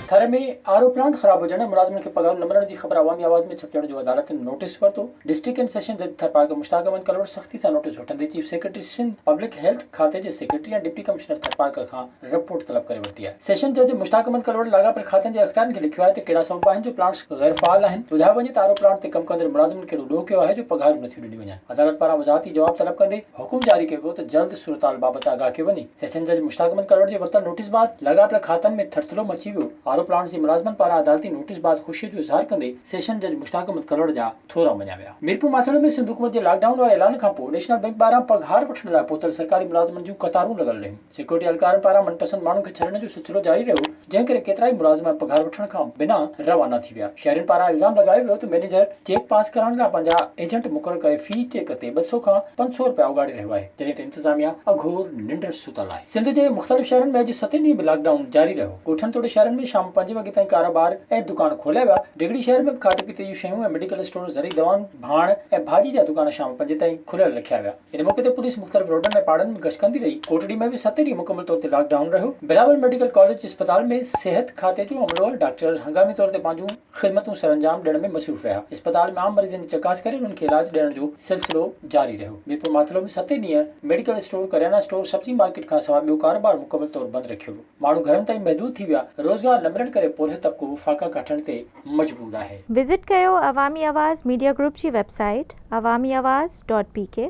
Thar ۾ R O plant خراب هجڻ ۽ ملازمن کي پگهارون نه ملڻ جي خبر عوامي آواز ۾ ڇپجڻ جو عدالتن نوٽيس ورتو، ڊسٽرڪٽ ڪين سيشن جج ٿرپارڪر مشتاق احمد ڪلهوڙ سختي سان نوٽيس وٺندي chief secretary Sindh public health کاتي جي سيڪريٽري ۽ ڊپٽي ڪمشنر ٿرپارڪر کان رپورٽ طلب ڪري ورتي آهي، سيشن جج مشتاق احمد ڪلهوڙ لاڳاپيل کاتن جي اختيارين کي لکيو آهي ته ڪهڙا سبب آهن جو پلانٽس غيرفعال آهن، ٻڌايو وڃي ته آر او پلانٽ تي ڪم ڪندڙ ملازمن ڪهڙو ڏوهه ڪيو آهي جو پگهارون نٿيون ڏنيون وڃن. عدالت پاران وضاحتي جواب طلب ڪندي حڪم جاري ڪيو ويو ته جلد صورتحال بابت آگاهه ڪيو وڃي. سيشن جج مشتاق احمد ڪلوڙ جي ورتل نوٽيس بعد لاڳاپيل کاتن ۾ ٿرٿلو مچي ويو. آر او پلانٽس جي ملازمن پاران عدالتي نوٽيس بعد خوشي جو اظهار ڪندي سيشن جج مشتاق احمد ڪلوڙ جا ٿورا مڃيا ويا. ميرپور ماٿيڙو ۾ سنڌ حڪومت جي لاڪ ڊائون واري اعلان کانپوء نيشنل بئنڪ ٻاهران پگهار وٺڻ لاء پهتل سرڪاري ملازمن جون قطارون لڳل رهيون. سيڪيورٽي اھلڪارن پاران من پسند ماڻھن کي ڇڏڻ جو سلسلو جاري رھيو، جنھن ڪري ڪيترائي ملازم پگھار وٺڻ کان بنا روانا ٿي ويا. شھرين پاران الزام لڳايو ويو ته مئنيجر چيڪ پاس ڪرائڻ لاء پنھنجا ايجنٽ مقرر ڪري في چيڪ تي ٻه سؤ کان پنج سؤ رپيا اوڳاڙي رھيو آھي، جڏھن ته انتظاميا اگھور ننڊ ستل آھي. سنڌ جي مختلف شھرن ۾ اڄ ستين ڏينھن به لاڪ ڊائون جاري رھيو، ڳوٺن توڙي شھرن ۾ شام پنج وڳي تائين ڪاروبار ۽ دڪان کوليا ويا، ڊگھڙي شھر ۾ به کاڌي پيتي جون شيون ۽ ميڊيڪل اسٽور، زرعي دوائن، ڀاڻ ۽ ڀاڄي جا دڪان شام پنجين تائين کليل رکيا ويا. ان موقعي تي پوليس مختلف روڊن ۽ پاڙن ۾ گشت ڪندي رهي، ڪوٽڙي ۾ به ست ڏينهن مڪمل طور تي لاڪ ڊائون رهيو، بلاول ميڊيڪل ڪاليج اسپتال ۾ صحت کاتي جو عملو ۽ ڊاڪٽر هنگامي طور تي پنهنجون خدمتون سرانجام ڏيڻ ۾ مصروف رهيا، اسپتال ۾ عام مريضن جي چڪاس ڪري انهن کي علاج ڏيڻ جو سلسلو جاري رهيو، ميرپور ماٿلو ۾ ست ڏينهن ميڊيڪل اسٽور، ڪريانا اسٽور، سبزي مارڪيٽ کان سواء ٻيو ڪاروبار مڪمل طور بند رکيو ويو، ماڻهو گهرن تائين محدود ٿي ويا، روزگار نه ملڻ ڪري پورهيت طبقو فاقا ڪاٺڻ تي مجبور آهي. وزٽ ڪيو عوامي آواز ميڊيا گروپ جي website Awami Awaz dot P ڪي.